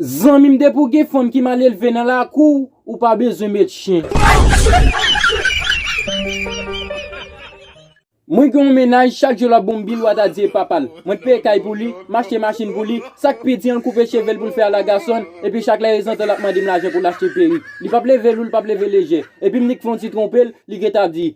Zanmim depi ou gen fanm ki mal elve nan lakou w ou pa bezwen met chyen. Mwen gen yon mennaj chak jou lap bonm bil wata di e papal mwen t peye kay pou li m achte machin pou li sak pi di an l koupe chevel pou l fè ala gason epi chak lè ezantan lap mandem lajan pou l achte perik li pap leve lou l pap leve lejè epim nik fè yon ti twonpe l li gentan ap di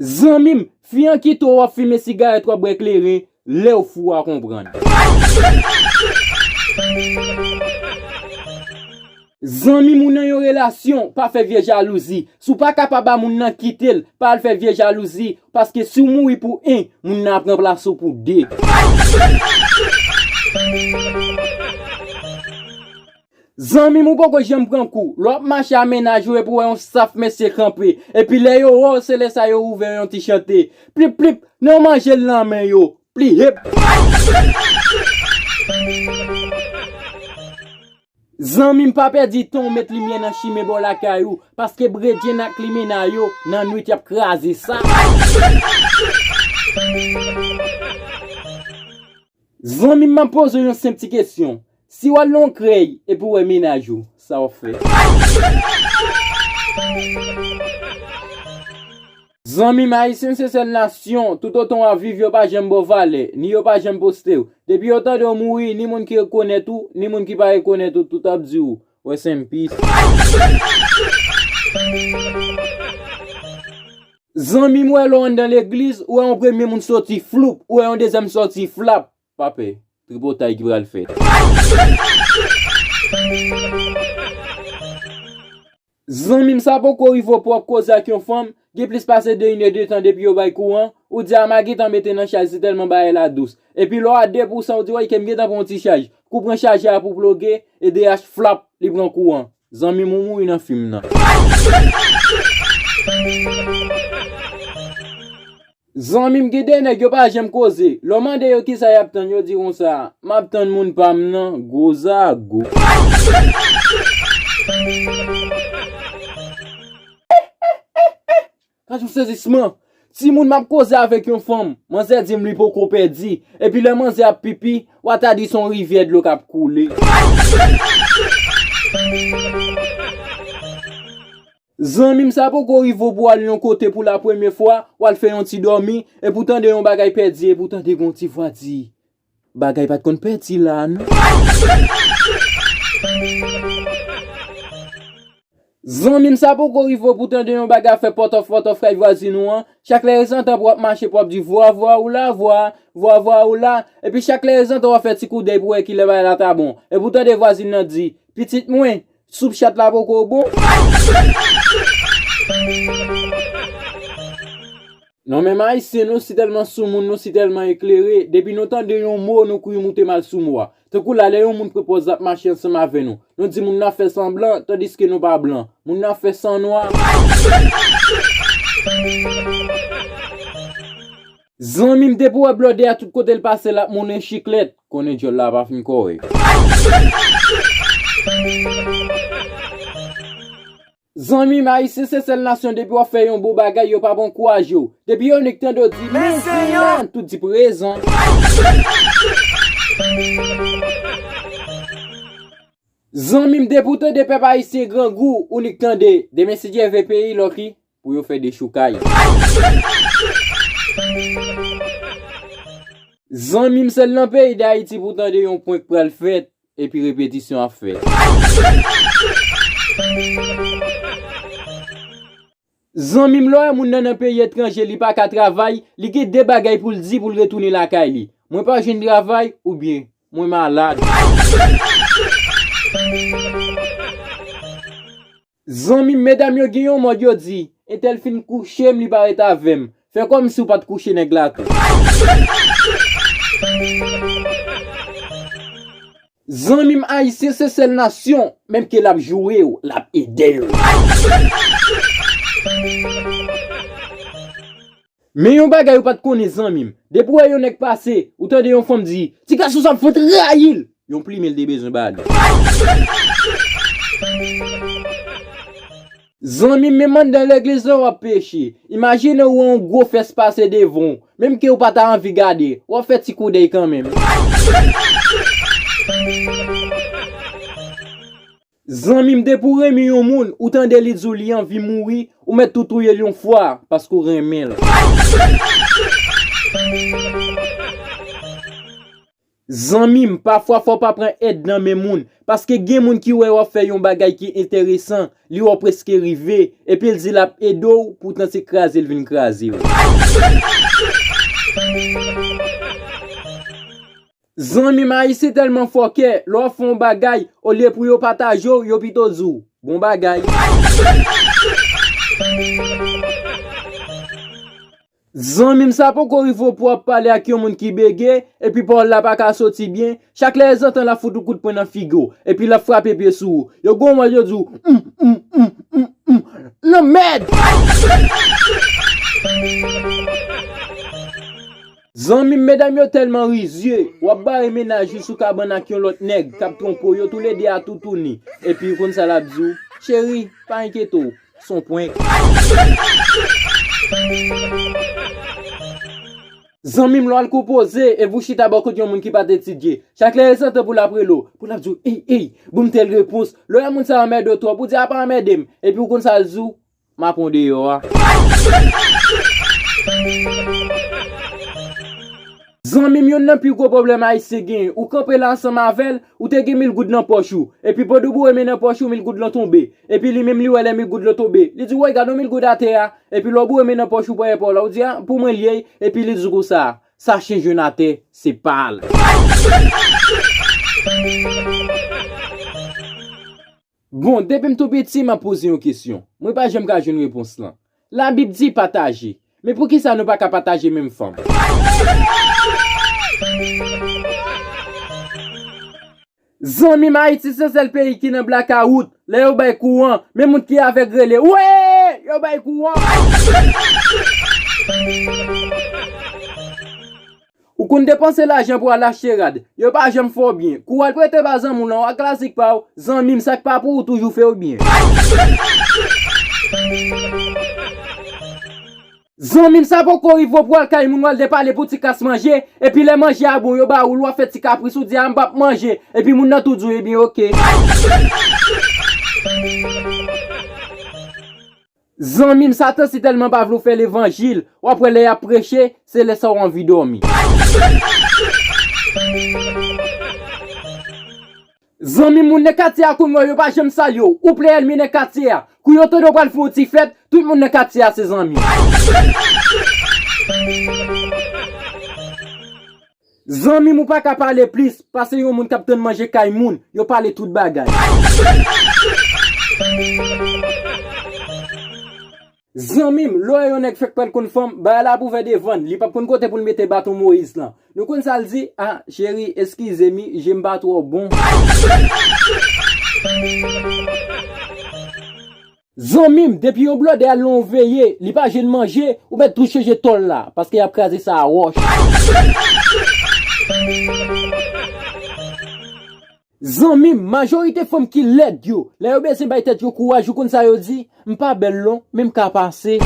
Zanmim fi an kite w wap fimen sigarèt wap bwè kleren lèw fou wa konprann. Zanmim ou nan yon relasyon pa fè vye jalouzi si w pa kapab a moun nan kitel pa al fè vye jalouzi paske siw mouri pou 1 moun nan ap ranplase w pou 2. Zanmim ou poko janm pran kou, lè wap mache a mennaj ou epi ou wè yon staff mesye kanpe, epi lè yo wèw se lè sa yo ouvè yon ti chante, plip plip, nan yo manjel nan men yo, plihep. Zanmim pa pèdi tanw met limyè nan chime bò lakay ou, paske bredjenn ak limena yo nan nwit yap kraze sa. Zanmim map pozew yon senp ti kesyon si wal nan yon krèy epi ou wè mennaj ou sa wap fè. Zanmim ayisyen se sèl nasyon tout otan wap viv yo pa janm baw valè ni yo pa janm postew depi yo tandew mouri ni moun ki rekonèt ou ni moun ki pa rekonèt ou tout ap diw Rest in peace. Zanmi m wè lè w anndan legliz ou wè yon premye moun soti floup ou wè yon dezyèm soti flap pa pè tripotay ki pral fèt. Zanmi m sa poko rive w pran koze ak yon fanm Gen plis pase 2 inè de tan depi yo bay kouran, ou di ama gentan mete nan chaj si tèlman bagay la dous. Epi lè w a 2 pousan ou di woy ke m gentan pran yon ti chaj. Kou pran chajè a pou ploge, edh flap, li pran kouran. Zanmi m ou mouri nan fim nan. Zanmi m gen de nèg yo pa janm koze, lè w mande yo kisa y ap tann yo di konsa, m ap tann moun pa m nan, gwo zago. Gad yon sezisman! Timoun m ap koze avèk yon fanm, manzè di m li poko pèdi, epi lè manzè ap pipi, wa ta di se yon rivyè dlo k ap koule. Zanmim sa poko rive ou pou al yon kote pou la premye fwa, wal fè yon ti dòmi, epi ou tande yon bagay pèdi epi ou tande gen yon ti vwa di, bagay pat konn pèdi la a non. Zanmim sa poko rive ou pou tande yon bagay ap fè pòtòf pòtòf kay vwazin ou an, chak lè ezantan pou wap mache pou wap di vwa vwa ou la vwa, vwa vwa ou la, epi chak lè ezantan wap fè ti koudèy pou wè kilè bagay la ta bon, epi ou tande vwazin nan di, pitit mwen, Soup chat la poko bon. Non menm ayisyen nou si tèlman soumoun nou si tèlman eklere depi nou tande yon mo nou kouri moute mal sou mo a tankou la lè yon moun pwopòz lap mache ansanm avè nou nou di moun nan fè san blan tandiske nou pa blan moun nan fè san nwa Zanmi m te pou wè blòdè a tout kote l pase lap moulen chiklèt. Konnen dyòl la pa fin kore. Zanmim ayisyen se sèl nasyon depi wap fè yon bon bagay yo pap ankourajew depi yo nik tande w di mèsi an tout di prezan. Zanmim depi w tande pèp ayisyen grangou ou nik tande demen si Dye ve peyi l ok. pou yo fè dechoukay. Zanmi m sèl nan peyi dayiti pou tande yon prank pral fèt epi repetisyon ap fèt. Zanmi m lè w wè moun nan nan peyi etranje li pa ka travay li gen de bagay pou l di pou l retounen lakay li, mwen pa jwenn travay oubyen mwen malad. Zanmim medam yo gin yon mòd yo di entèl fin kouchem li pa ret avèm fè kòm siw pat kouche nèg la tou. Zanmim ayisyen se sèl nasyon menm ke lap jourew lap edew. Men yon bagay ou pat konnen zanmim, depi ou wè yon nèg pase, ou tande yon fanm di, ti gason sa m fenk rayil, yon plimen l te bezwen ba li. Zanmim menm anndan legliz lan wap peche, imajine ou wè yon gwo fès pase devan w, menm ke ou pa ta anvi gade, wap fè ti koudèy kanmenm. Zanmim depi ou renmin yon moun ou tande li diw li anvi mouri ou met tou touyel yon fwa pask ou renminl. Zanmim pafwa fòw pa pran èd nan men moun paske gen moun ki wè wap fè yon bagay ki enteresan li wè ou preske rive epil di lap edew poutan se kraze li vin krazew. Zanmim ayisyen tèlman fòkè, lè w fè yon bagay, olye pou yo pataje w, yo pito di w, bon bagay. Zanmim sa poko rive w pou w ap pale ak yon moun ki bege, epi pawòl la paka soti byen, chak lè zantan l ap fout yon kout pwen nan figi w, epi l ap frape pye sou ou, yo gen yon mòd yo di w, m, m, m, m, m, lanmèd! Zanmim medam yo telman rizye, wap bare mennaj li sou kabann ak yon lot neg kap tronpe w yo tou le 2 a toutouni, epi ou konn sa lap di w, cheri pa enkyete w, son prank. Zanmim lè wal konpoze epi ou chita bò kot yon moun ki pat etidye, chak lè el santan pou lap rele w, pou lap di w ey ey, bonm tel repons, lè wè moun sa anmède w twòp ou di apa anmède m, epi ou konn sa l di w, Map on deyo a. Zanmim yonn nan pi gwo pwoblèm ayisyen genyen ou kanpe la ansanm avèl ou te gen mil goud nan pòch ou epi pandan ou boure men nan pòch ou mil goud lan tonbe epi li menm li wè lè mil goud lan tonbe li di woy gadon mil goud atè a epi lè ou boure men nan pòch ou premyè paw la ou di a pou mwen li ye epi li di konsa sa chen jwenn atè se pal. Bon, depi m tou piti, m ap poze yon kesyon. Mwen pa janm ka jwenn repons lan. Labib di pataje. Men poukisa nou pa ka pataje menm fanm? Zanmi m Ayiti se sèl peyi ki nan blakawout. Lè yo bay kouran, men moun ki avèg rele, Wee! Yo bay kouran! Ou konn depanse lajan pou al achte rad, yo pa janm fè w byen. Kou w al prete ba zanmi w lan w ak klasik pa w, zanmi m sa k pa pou ou toujou fè w byen. Zanmi m sa poko rive w pou w al kay moun w al depale pou ti kas manje, epi lè manje a bon yo ba ou l w ap fè ti kapris ou di a m pap manje, epi moun nan tou di w ebyen ok. Zanmim satan si telman pa vle w fè levanjil wap wè lè yap preche se lè sa w anvi domi. Zanmim moun nan katye a konn wè w yo pa janm salye w ou plen elmi nan katye a kou yo tande w pral fè yon ti fèt tout moun nan katye a se zanmi w. Zanmim ou paka pale plis pase yon moun kap tann manje kay moun yo pale tout bagay. Zanmim lè w wè yon nèg fèk pral konn fanm bagay la ap ouvè devann li pap konn kote poul mete baton moyiz lan nou konn sal di ah cheri eskize mi jem pa twò bon. Zanmim depi yon blòdè al nan yon veye li pa jwenn manje ou mèt tou chanje tòl la paske yap kraze sa a wòch. Zanmim majorite fanm ki lèd yo lè yo bezyen bay tèt yo kouraj ou konn sa yo di m pa bèl non men m ka pase.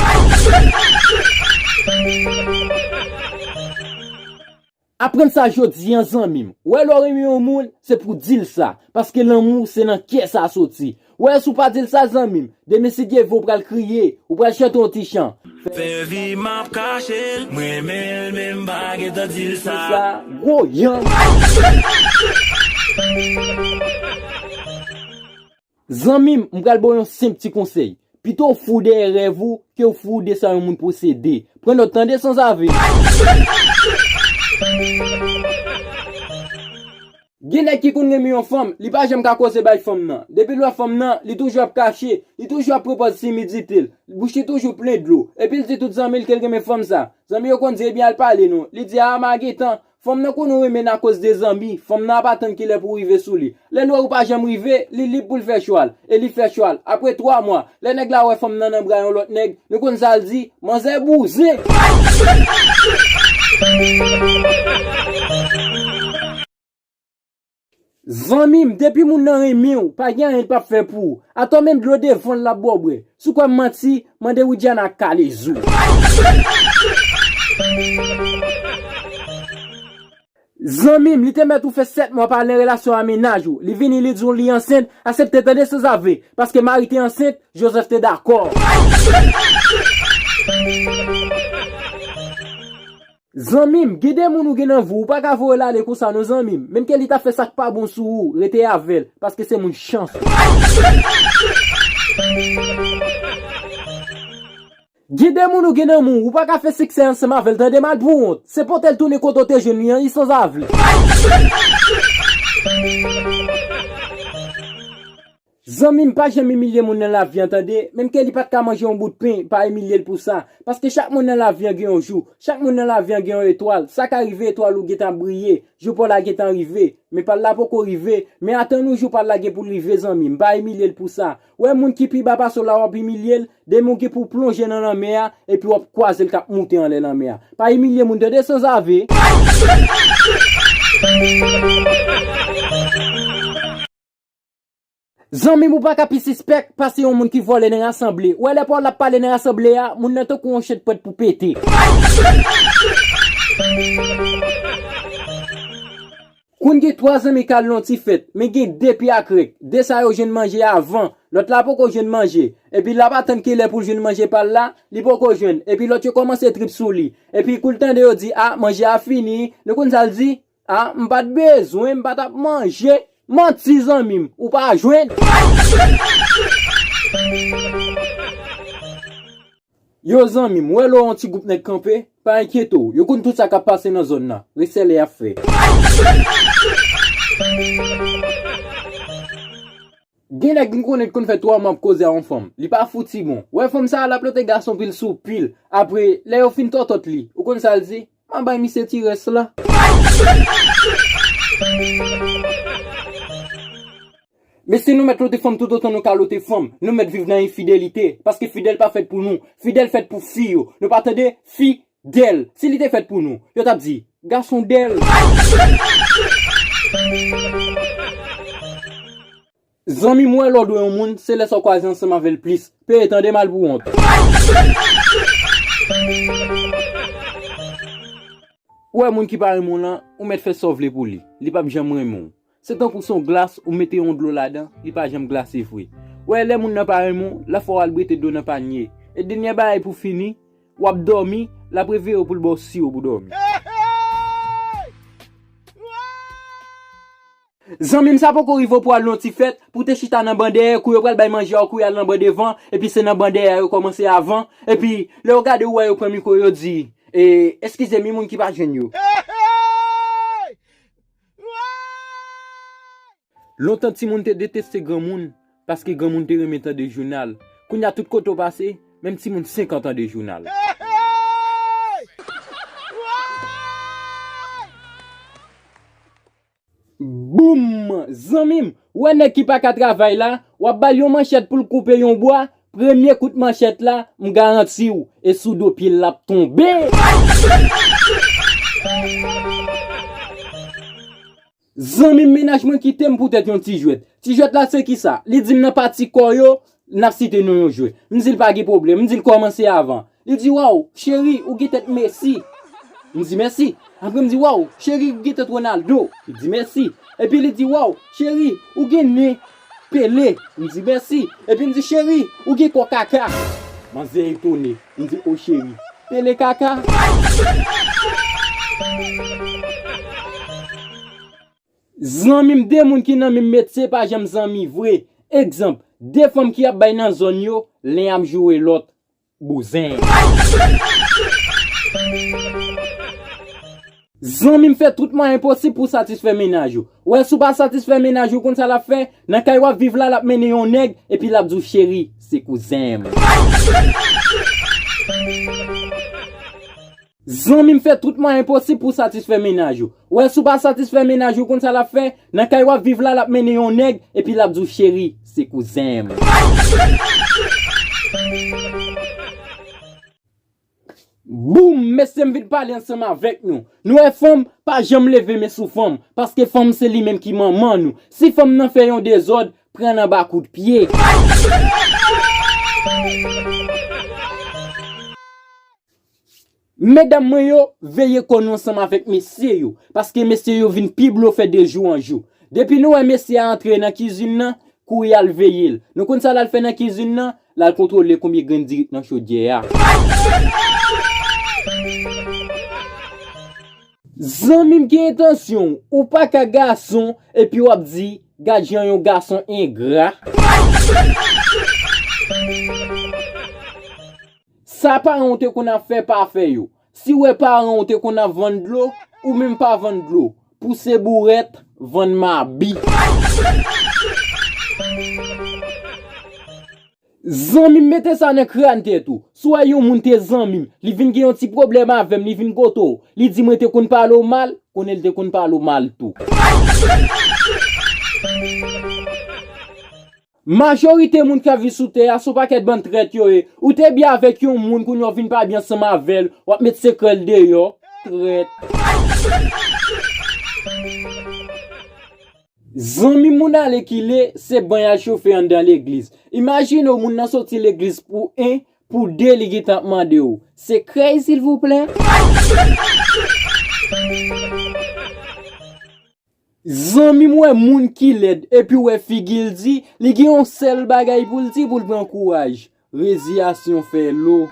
Aprann sa jodi an zanmim. Wè lè w renmen yon moun, se pou w di l sa, paske lanmou se nan kè sa soti. Wè si w pa di l sa zanmim, demen si Dieu veut ou pral kriye, ou pral chante yon ti chan, fè sa. Fè vi m ap kache l, m renmen l men m pa gentan di l sa. Gwo yanm! Zanmim, m pral baw yon senp ti konsèy. Pito w fou dèyè rèv ou ke w fou de sa yon moun posede. Pran nòt tande sanzave! Gen nèg ki konn renmen yon fanm, li pa janm ka koze bay fanm nan. Depi l wè fanm nan, li toujou ap kache, li toujou ap pran pòz timidite l, bouch li toujou plen dlo. Epi l di tout zanmi l ke l renmen fanm sa. Zanmi yo konn di ebyen al pale non. Li di aa ma gentan, Fanm nan konn renmen n akoz de zanmi, fanm nan ap atann kilè pou w rive sou li. Lè l wè ou pa janm rive, li lib pou l fè chwa l. E li fè chwa l. Apre 3 mwa, lè nèg la wè fanm nan nan bra yon lòt nèg, nou konn sa l di, Manzè bouzen! Zanmim depi moun nan renmenw pa gen anyen l pap fè pou ou atò men dlo devanl lap baw bwè sou kwèm manti mande widiana kale zou. Zanmim li te mèt ou fè 7 mwa pa al nan relasyon a mennaj ou li vini li diw li ansent asepte tande sanzave paske mari te ansent Joseph te dakò. Zanmim gen de moun ou gen nan vi w ou paka voye l ale konsa non zanmim menm ke li ta fè sak pa bon sou ou rete avèl paske se moun chans ou. Gen de moun ou gen nan moun ou paka fè siksè ansanm avèl tande mal pou wont se potel tounen kote ou te jwenn li an li sanzave. Zanmim pa janm imilye moun nan lavi an tande, menm ke li pat ka manje yon bout pen pa imilyel pou sa, paske chak moun nan lavi an gen yon jou, chak moun nan lavi an gen yon etwal, sa ka rive etwal ou gentan ap briye, jou paw la gentan rive, men pal la poko rive, men atann ou jou pal la gen poul rive zanmim, pa imilyel pou sa, wè moun ki pi ba pase w la wap imilyel, demen ou gen pouw plonje nan lanmè a, epi wap kwazel kap moute anlè lanmè a, pa imilye moun tande sanzave. Zanmim ou paka pi sispèk pase yon moun ki vòlè nan rasanble, ou wè lè Paul ap pale nan rasanble a, moun nan tankou yon chen t prèt pou pete. Queen gen 3 zanmi kal nan yon ti fèt, men gen 2 pi akrèk, 2 sa yo jwenn manje avan, lòt la poko jwenn manje, epi lap atann kilè poul jwenn manje pal la, li poko jwenn, epi lòt yo kòmanse trip sou li, epi kou l tande yo di ah manje a fini, nou konn sal di? Ah m pat bezwen m pa tap manje Manti zanmi m ou pa jwenn. Yo zanmi m wè lè w wè yon ti gwoup nèg kanpe pa enkyete w yo konn tout sa kap pase nan zòn nan resèlè yap fè. Gen nèg m konnen t konn fè 3 mwa ap koze a yon fanm li pa fouti bon wè fanm sa lap lote gason pil sou pil apre lè yo fin tòtòt li ou konn sa l di Mwen bay misye ti rès la. Mesye nou mèt lote fanm toutotan nou ka lote fanm, nou mèt viv nan enfidelite, paske fidèl pa fèt pou nou, fidèl fèt pou fi yo, nou pa tande, fi, dèl, si li te fèt pou nou, yo tap di, gason dèl. Zanmi m wè lè w dwe yon moun, se lè sa w kwaze ansanm avè l plis. Peye tande mal pou wont. Ou wè moun ki pa renmen w lan, ou mèt fè sa w vle pou li, li p ap janm renmen w. Se tankou s on glas, ou mete yon dlo ladan, li pa janm glase vre. Ou wè lè moun nan pa renmen w, l ap fè w al brete dlo nan pànye. E dènyè bagay pou fini, w ap dòmi, l ap reveye w pou l ba w siwo pou dòmi. Zanmim sa poko rive ou pwal non ti fèt pou te chita nan ban dèyè kou yo pral bay manje a ou kouri al nan ban devan epi se nan ban dèyè a yo kòmanse avan epi lè ou gade ou wè yo pran mikro yo di eh eskizem wi moun ki pa jwenn yo. Lontan timoun te deteste granmoun paske granmoun te renmen tande jounal kounya tout kote ou pase menm timoun 5 an tande jounal. Boom! Zanmim, ou wè nèg ki pa ka travay la, wap bal yon manchèt poul koupe yon bwa, premye kout manchèt la, m garantiw, e sou do pyel lap tonbe! Zanmim mennaj mwen kitem poutèt yon ti jwèt. Ti jwèt la se kisa? Li dim nan pati kò yo, N ap site non yon jwè. M di l pa gen pwoblèm. M di l kòmanse avan. Li di waw, cheri, ou gen tèt Messi. M di mèsi. Apre m di waw, cheri, ou gen tèt Ronaldo. Li di mèsi. Epi li di waw, cheri, ou gen nen Pele. M di mèsi. Epi m di cheri, ou gen kò Kaka. Manzè etone. M di o cheri, Pele Kaka? Zanmim 2 moun ki nan minm metye pa janm zanmi vre egzanp 2 fanm ki ap bay nan zòn yo len ap joure lòt bouzen. Zanmim fè tout mwayen posib pou satisfè mennaj ou wè si w pa satisfè mennaj ou konn sa lap fè nan kay wap viv la lap mennen yon nèg epi lap di w cheri se kouzenm. Zanmim fè tout mwayen posib pou satisfè mennaj ou. Ou wè si ou pa satisfè mennaj ou ou konn sa lap fè, nan kay wap viv la lap mennen yon nèg epi lap di ou cheri se kouzenm. Boom mesyem vin pale ansanm avèk nou. Nou wè fanm pa janm leve men sou fanm, paske fanm se li menm ki manman nou. Si fanm nan fè yon dezòd, prann anba kout pye. Medam mwen yo, veye kò nou ansanm avèk mesye yo, paske mesye yo vin pi blofè de jou an jou. Depi nou wè mesye a antre nan kizin nan, kouri al veye l. Nou konn sa l al fè nan kizin nan? L al kontwole konbyen grenn diri k nan chodyè a. Zanmi m ki entansyon w? Ou pa ka gason, epi w ap di, gad jan yon gason engra. Sa paran w te konn ap fè pa fè yo. Si wè paran w te konn ap vann dlo, ou menm pa vann dlo. Pouse bourèt, vann mabi. Zanmi m mete sa nan kràn tèt ou. Si w wè yon moun te zanmi m, li vin gen yon ti pwoblèm avè m, li vin kote w, li di mwen te konn pale w mal, konnen l te konn pale w mal tou. Majorite moun kap viv sou tè a son pakèt bann trèt yo ye ou te byen avèk yon moun kounya ou vin pa byen ansanm avèl wap met sekrèl deyò trèt. Zanmi moun ale kile se ban yal chofe andan legliz imajine w moun nan soti legliz pou 1 pou 2 li gintan ap mande w sekrèy silvouplè. Zanmim wè moun ki lèd epiw wè figil di li gen yon sèl bagay poul di poul pran kouraj reziyasyon fè lo.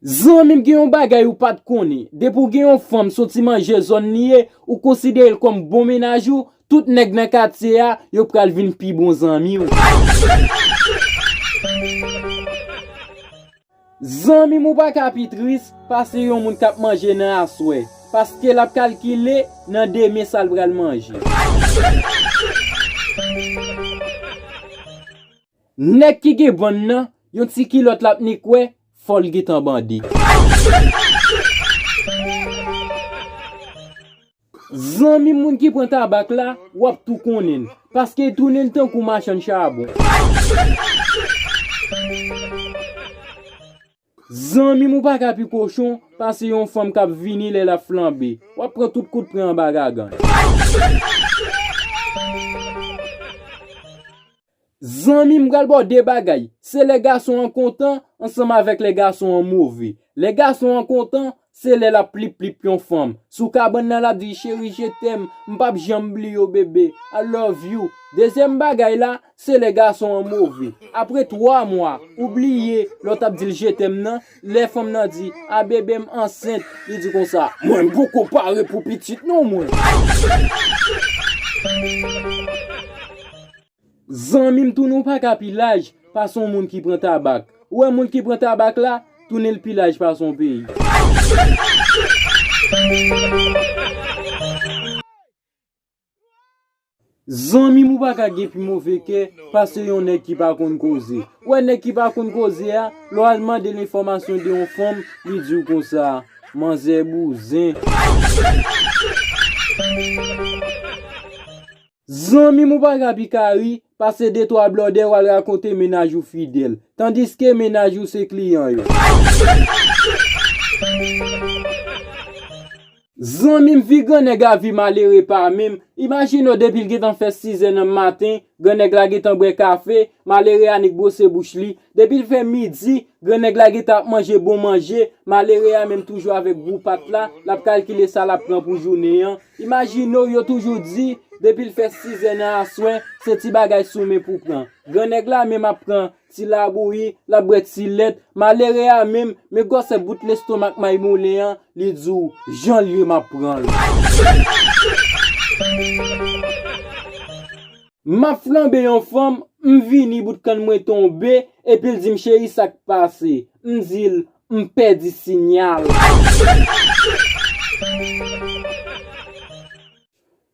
Zanmim gen yon bagay ou pat konnen depi ou gen yon fanm soti manje zòn li ye ou konsiderel kòm bon mennaj ou tout nèg nan katye a yo pral vin pi bon zanmiw. Zanmi m ou pa ka pi tris pase yon moun k ap manje nan aswè, paske l ap kalkile nan demen sa l pral manje. Nèg ki gen bann nan yon ti kilòt l ap ni kwè fò l gentan bande. Zanmim moun ki pran tabak la wap tou konnenl paskel tounenl tankou machann chabon. Zanmim ou paka pi kochon pase yon fanm kap vini lè lap flanbe wap pran tout kout pren anba gagann. Zanmi m pral ba w de bagay, se lè gason an kontan ansanm avèk lè gason an move. Lè gason an kontan, se lè l ap plip plip yon fanm. Sou kabann nan l ap di, cheri je tèm, m p ap janm bliye w bebe, I love you. Dezyèm bagay la, se lè gason an move. Apre twa mwa, ou bliye lè w t ap di l je tèm nan, Lè fanm nan di, a bebe m ansent, li di konsa, mwen m poko pare pou pitit non mwen. Zanmi m tounen w pa ka pi laj pase yon moun ki pran tabak. Ou wè moun ki pran tabak la, tounen l pi laj pase yon peyi. Zanmim ou paka gen pi move kè pase yon nèg ki pa konn koze. Ou wè nèg ki pa konn koze a, lè w al mande l enfòmasyon de yon fanm, li di w konsa, Manzè bouzen. Zanmim ou paka pi kari pase de twa blòdè w al rakonte mennaj ou fidèl, tandiske mennaj ou se kliyan yo. Zanmim vi gran nèg a vi malere pa menm, imajine w depil gentan fè 6 zè nan maten, gran nèg la gentan bwè kafe, malere a nik bwose bouch li, depil fè midi, gran nèg la gentan ap manje bon manje, malere a menm toujou avèk gou pat la, lap kalkile sa lap pran pou jounen an, imajine w yo toujou di, depil fè 6 zè nan aswè, se ti bagay sou men pou pran, gran nèg la menm ap pran Ti labouyi, l ap bwè ti lèt. Malere a menm, men gwòsè bout lestomak mayimoulen an, li di w, Jan l ye m ap pran l. M ap flanbe yon fanm, m vini bout kann mwen tonbe, epi l di m cheri sa k pase? M di l, M pèdi sinyal.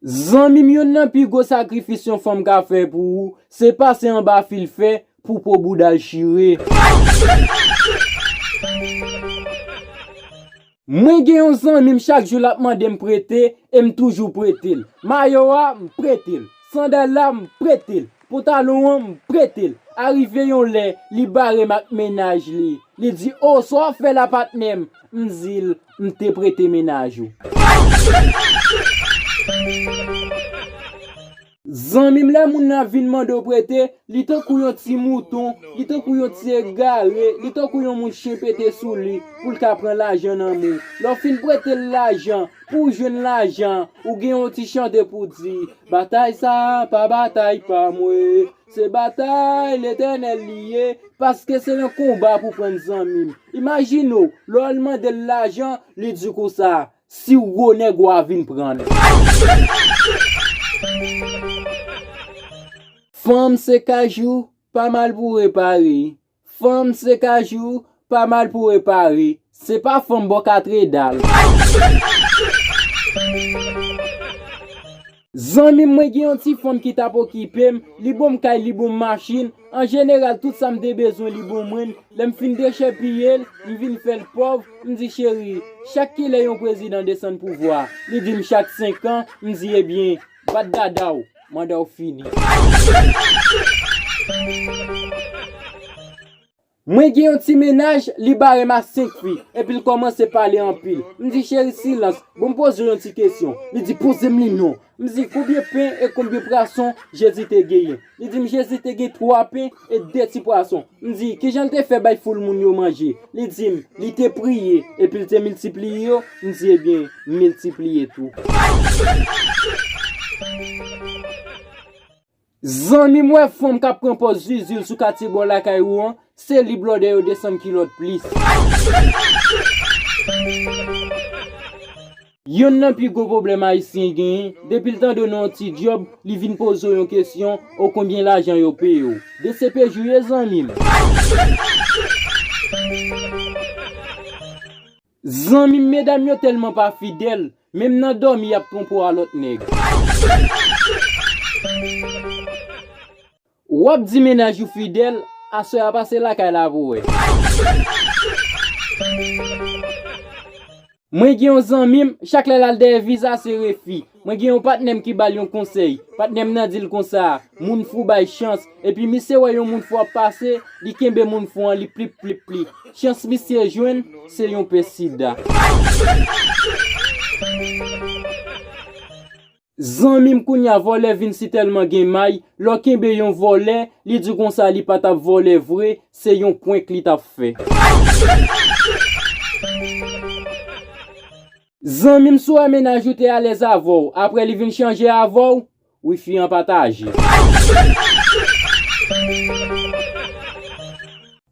Zanmim youn nan pi gwo sakrifis yon fanm ka fè pou ou se pase anba fil fè pou po boudal chire. Mwen gen yon zanmim chak jou lap mandem prete em toujou pretel mayo a m pretel sandal la m pretel Pantalon an m pretel. Arive yon lè li barem ak mennaj li, li di oh sa wap fè la patnèm, m dil m te prete mennaj ou. Zanmim lè moun nan vin mandew prete, li tankou yon ti mouton, li tankou yon ti egare, li tankou yon moun chen pete sou li poul ka pran lajan nan men w. Lè w fin pretel lajan, pouw jwenn lajan an, ou gen yon ti chante pouw di, Batay sa a pa batay pa mwen, se batay Letènèl li ye, paske se yon konba pou pran zanmi m. Imajine w, lè w al mande l lajan, li di w konsa, Si w gwo nèg w a vin pran l. Fanm se kajou, pa mal pou repare. Fanm se kajou, pa mal pou repare, se pa fanm bò katredal. Zanmi m mwen gen yon ti fanm ki tap okipe m, li bonm kay li bonm machin, an jeneral tout sa m te bezwen li bon mwen n, lè m fin dechèpiye l, m vin fè l pòv, m di cheri, chak kilè yon prezidan desann pouvwa, li di m chak 5 an, m di ebyen. Bat dada w manda w fini. Mwen gen yon ti mennaj li barem a 5 fi epil komanse pale anpil m di cheri silans bon m poze w yon ti kesyon li di pozem li non m di konbyen pen e konbyen prason jezi te genyen li dim jezi te gen 3 pen E de ti pwason. M di, 'Ki jan l te fè bay foul moun yo manje? Li di m, 'Li te priye, epi l te miltipliye yo. M di, 'Ebyen, m miltipliye tou. Zanmi m wè fanm k ap pran pòz zuzu l sou katye bò lakay ou an, se li blòdè yo desann kilòt plis. Yonn nan pi gwo pwoblèm ayisyen genyen, depil tande w nan yon ti dyòb, li vin poze w yon kesyon, o konbyen lajan yo peye w? Dcpj ou ye zanmi m? Zanmi m medam yo tèlman pa fidèl, menm nan dòmi y ap twonpe w a lòt nèg. Wap di mennaj ou fidèl, aswè a pase lakay la pou wè. Mwen gen yon zanmim, chak lè lal dèyè viza se refi. Mwen gen yon patnèm ki bal yon konsèy, patnèm nan dil konsa, moun fou bay chans, epi misye wè yon moun fou ap pase, li kenbe moun fou an li plip plip li. Chans misye jwenn, se yon pe sida. Zanmim kounya vòlè vin sitèlman gen may lè w kenbe yon vòlè li di konsa li pa tap vòlè vre se yon prank li tap fè. Zanmim sou wè mennaj ou te alèz avèw aprè li vin chanje avèw wi fi an pataje.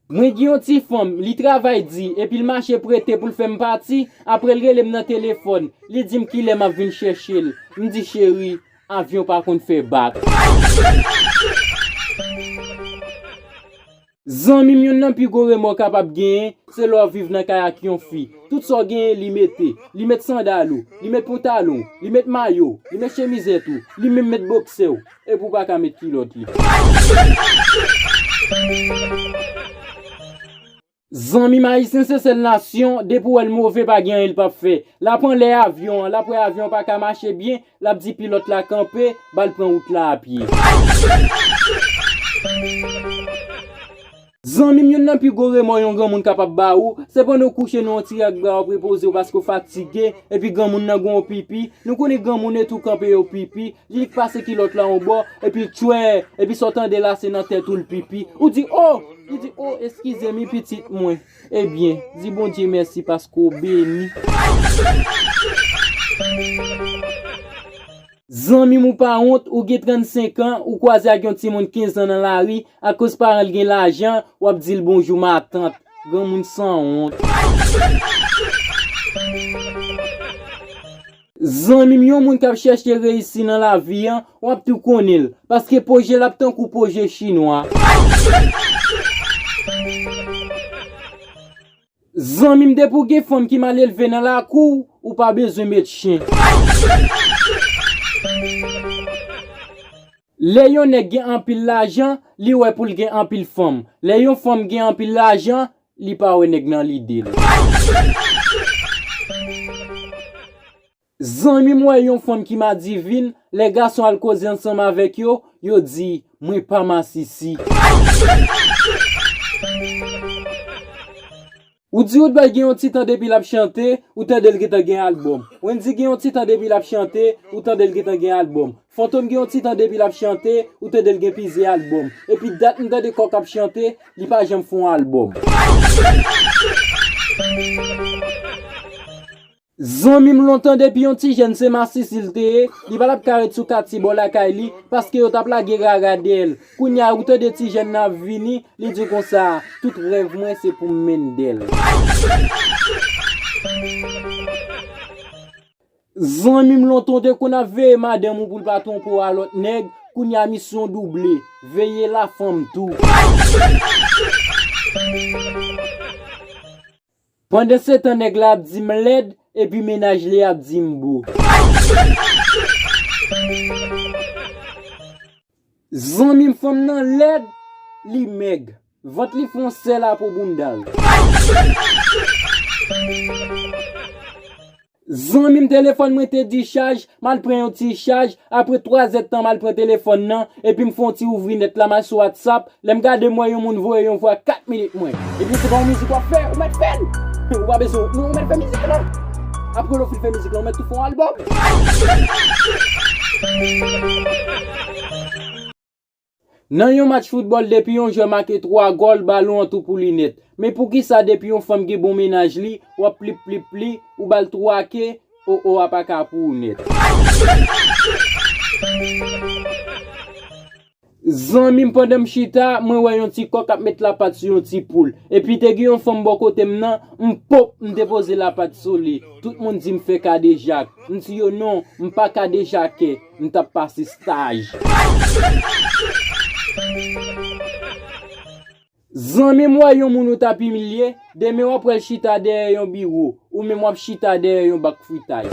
Mwen gen yon ti fanm, li travay di, epi l mache prete pou l fè m pati, apre l rele m nan telefòn, li di m kilè m ap vin chèche l, m di cheri, avyon pa konn fè bak. Zanmi m yonn nan pi gwo remò w kapab genyen, se lè w viv nan kay ak yon fi, tout sa w genyen li mete, li met sandal ou, li met pantalon w, li met mayo w, li met chemizèt ou, li menm met boksè w. Epi ou paka met kilot li. Zanmim ayisyen se sèl nasyon depi ou wèl move pa gen anyen li pap fè lap anlè avyon an lap wè avyon an paka mache byen lap di pilòt la kanpe bal pran wout la apye. Zanmim youn nan pi gwo remò yon granmoun kapab ba ou, se pandan ou kouche nan yon ti rak bra wap repoze ou paske ou fatige, epi granmoun nan gonw pipi, nou konnen granmoun e tou kanpe yo pipi, li k pase kilòt la yon bò, epi tchwèè, epi sa w tande la se nan tèt ou l pipi, ou di oo, li di oo eskizem wi pitit mwen, ebyen, di Bondye mèsi paske w beni. Zanmim ou pa wont ou gen 35 ans ou kwaze ak yon timoun 15 ans nan lari akoz paranl gen lajan wap dil bonjou ma tante granmoun san wont. Zanmim yon moun kap chèche reyisi nan lavi an wap tou konnenl paske pwojel ap tankou pwoje chinwa. Zanmim depi w gen fanm ki mal elve nan lakou w ou pa bezwen met chen. Lè yon nèg gen anpil lajan li wè poul gen anpil fanm lè yon fanm gen anpil lajan li pa wè nèg nan lidel. Zanmi m wè yon fanm ki madivin, lè gason al koze ansanm avèk yo, yo di, Mwen pa masisi. Ou di Woodboy gen yon ti tan depi l ap chante, ou tande l gentan gen albòm. Wendyy gen yon ti tan depi l ap chante, ou tande l gentan gen albòm. Fantom gen yon ti tan depi l ap chante, ou tande l gen plizyè albòm. Epi dat m tande Kòk ap chante, li pa janm fè yon albòm. Zanmim lontan depi yon ti jèn se masisi l te ye li pa tap ka ret sou katye bò lakay li paske yo tap lage rara dèyèl kounya ou tande ti jèn nan ap vini li di konsa tout rèv mwen se poum mendel. Zanmim lontan ou te konn ap veye madanm ou poul pa twonpe w a lòt nèg kounya misyon w double veye la fanm tou. Pandansetan nèg la ap di m lèd epi mennaj li ap di m bo. Zanmi m fanm nan lèd, li mèg. Vant li fè yon sèl a po bounda l. Zanmim telefòn mwen te di chaj, mal pran yon ti chaj, apre 3 zèd tan mal pran telefòn nan, epim fon ti ouvri nèt la mal sou whatsapp, lèm gade m wè yon moun voye yon vwa 4 minit mwen. Ebyen se pa yon mizik wap fè, ou mèt fèl! Ou pa bezwen non ou mèt fè mizik lan! Apre lè w fin fè mizik lan ou mèt tou fè yon album! Nan yon match foutbòl depi yon jwè make 3 gòl balon an tou pou li nèt. Men poukisa depi yon fanm gen bon mennaj li wap plip plip pli ou bal 3 ke oh oh a pa ka pou ou nèt. Zanmim pandan m chita mwen wè yon ti kòk ap met lapat sou yon ti poul. Epi te gen yon fanm bò kote m nan m pop m te poze lapat sou li. Tout moun di m fè kadejak. M di yo non m pa kadejakè. M tap pase staj. Zanmim wè yon moun ou tap imilye, demen wap pral chita dèyè yon biwo, ou menm wap chita dèyè yon bak fritay.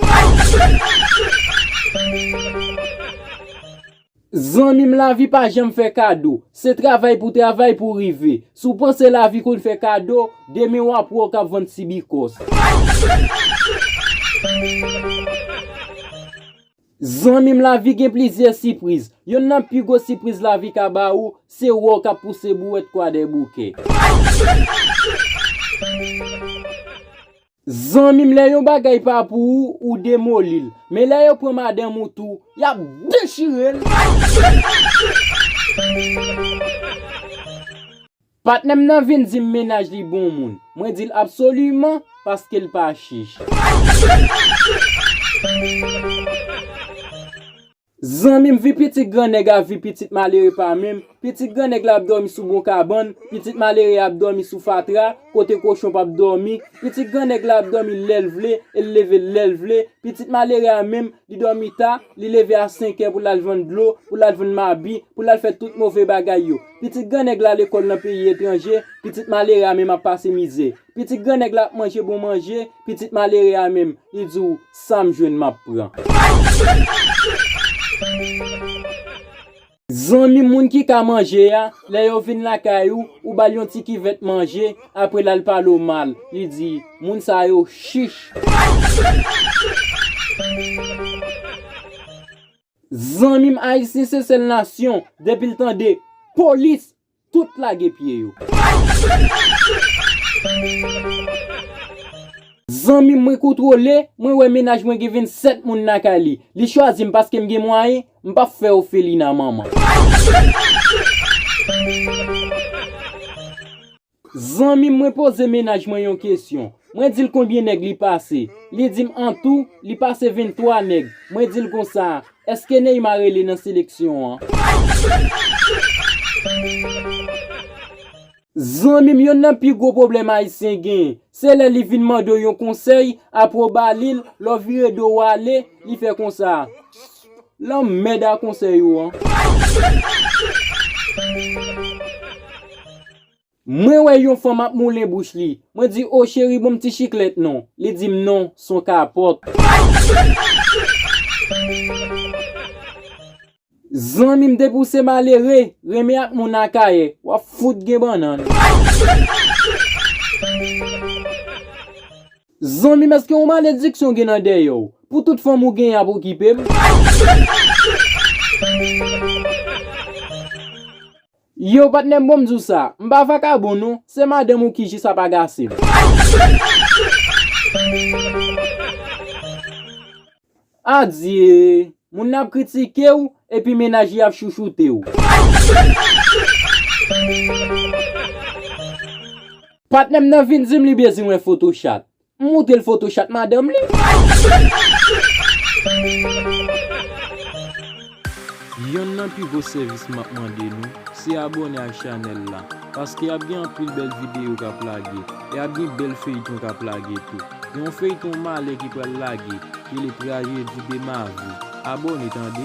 Zanmim lavi pa janm fè kado, se travay pou travay pou rive, si w panse lavi konn fè kado, demen wap wè w kap vann sibikòs. Zanmi m lavi gen plizyè sipriz. Yonn nan pi gwo sipriz lavi ka ba ou, se wè w k ap pouse bouwèt kwadèboukè. Zanmi m lè yon bagay pa pou ou, ou demoli l. Men lè yo pran madanm ou tou, y ap dechire l. Patnè m nan vin di m mennaj li bon moun. Mwen di l absoliman paske l pa chich. Zanmi m vi pitit gran nèg a vi pitit malere pa menm. Pitit gran nèg la ap dòmi sou bon kabann, pitit malere a ap dòmi sou fatra, kote kochon p ap dòmi. Pitit gran nèg la ap dòmi lè l vle e l leve l lè l vle. Pitit malere a menm, li dòmi ta, li leve a senkè pou l al vann dlo, pou l al vann mabi, pou l al fè tout move bagay yo. Pitit gran nèg la lekòl nan peyi etranje, pitit malere a menm ap pase mize. Pitit gran nèg la ap manje bon manje, pitit malere a menm, li di w, sa m jwenn m ap pran. Zanmi moun ki ka manje a, lè yo vin lakay ou, ou ba l yon ti kivèt manje, apre l al pale w mal, li di, moun sa yo chich. Zanmim ayisyen se sèl nasyon depil tande polis tout lage pye yo. Zanmim mwen kontwole mwen wè mennaj mwen gen 27 moun lakay li li chwazim paskem gen mwayen mpap fè ofelina manman. Zanmim mwen poze mennaj mwen yon kesyon mwen dil konbyen nèg li pase li dim antou li pase 23 nèg mwen dil konsa eske Neymar rele nan seleksyon an. Zanmim yonn nan pi gwo pwoblèm ayisyen genyen se lè li vin mandew yon konsèy apre w balil lè w vire do w ale li fè konsa lanmmèd a konsèy ou an. Mwen wè yon fanm ap moulen bouch li. Mwen di, o cheri banm ti chiklèt non. Li di m non, son kapòt. Zanmi m depi w se malere, renmen ak moun Akayè, w ap fout gen bannann. Zanmi m eske yon malediksyon gen nan dèyè w, pou tout fanm ou genyen ap okipe m. Yow patnèm bonm diw sa, m pa vakabon non, se madanm ou ki jis ap agase m. Adyee! Moun nan ap kritike w, epi mennaj li ap chouchoute w. Patnèm nan vin di m li bezwen photo chat. M moutre l foto chat madanm li. Yonn nan pi gwo sèvis map mande nou, se abòne ak chanèl la, paske ap gen anpil bèl videyo kap lage, e ap gen bèl feyton kap lage tou. Gen yon feyton malè ki pral lage, rele trajedi de ma vie. Abone tande.